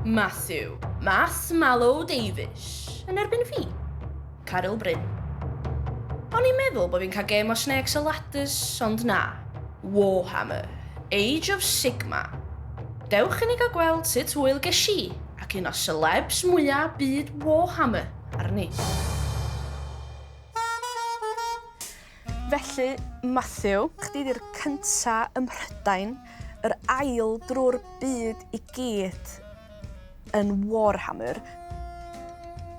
Matthew, Mass Malo Davies, yn erbyn fi. Caryl Bryn. O'n i'n meddwl bod fi'n cael gêm o Snakes a Ladders, ond na. Warhammer, Age of Sigma. Dewch i ni gael gweld sut hwyl ges i ac un o celebs mwyaf byd Warhammer arni. Felly, Matthew, chdi 'di'r cynta ym Mhrydain, yr ail drwy'r byd i gyd yn Warhammer.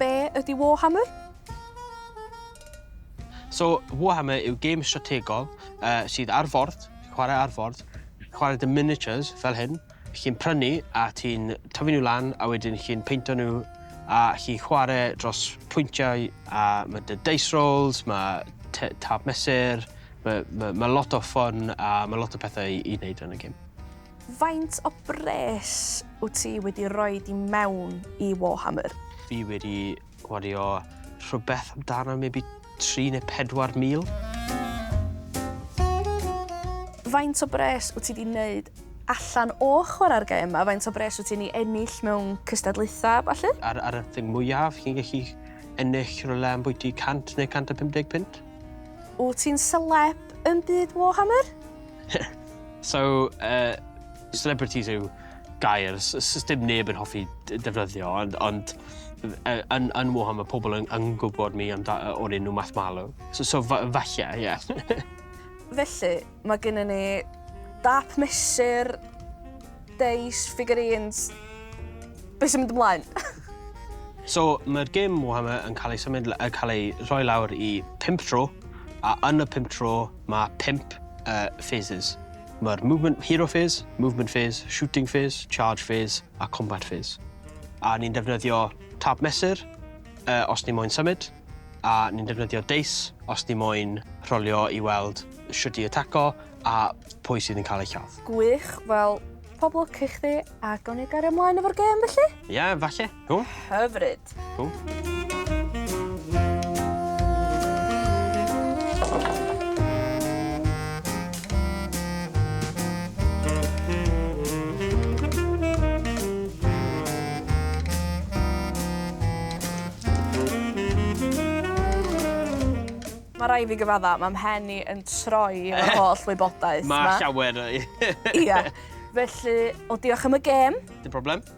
Be ydi Warhammer? So, Warhammer yw gêm strategol yy sydd ar ford, chwarae ar ford, chwarae 'da miniatures fel hyn, Chi'n prynu a ti'n tyfu nhw lan a wedyn chi'n peinto nhw a chi'n chwarae dros pwyntiau a mae dy dice rolls, mae tap mesur, mae, mae, mae lot o ffon a mae lot o pethau i, i wneud yn y gêm. Faint o bres wyt ti wedi rhoi i mewn i Warhammer? Fi wedi Wario rhywbeth amdano maybe tri neu pedwar mil. Faint o bres wyt ti wedi wneud allan o chwarae'r gêm yma? Faint o bres wyt ti'n ei ennill mewn cystadlaethau, falle? Ar, ar y thing mwyaf, chi'n gallu ennill rhywle am bwyty 100 neu 150 pint. Wyt ti'n celeb yn byd Warhammer? so, uh, Celebrities yw gair s- s- s- dim neb yn hoffi d- defnyddio ond ond f- yy yn yn Warham ma' pobl yn yn gwbod mi amda- yy o'r enw Math Marlow. So so fa- falle ie. Felly, mae gennyn ni dâp mesur, deis, figurines. Be' sy'n mynd ymlaen? So ma'r gêm Warhammer yn cael ei symud la- yn cael ei rhoi lawr i pump tro a yn y pump tro ma' pump yy phases. Mae'r Movement Hero Phase, Movement Phase, Shooting Phase, Charge Phase a Combat Phase. A ni'n defnyddio tab mesur uh, os ni moyn symud, a ni'n defnyddio deis os ni moyn rholio i weld sut i ataco a pwy sydd yn cael ei lladd. Gwych, wel, pob lwc i chdi, a gawn ni gario ymlaen efo'r gêm felly? Ie, yeah, falle. Cool. Hyfryd. Cool. Mae rai fi gyfadda, mae mhen i yn troi o'r eh. holl wybodaeth. Mae llawer. Ia. Felly, o diolch am y gêm. Dim problem.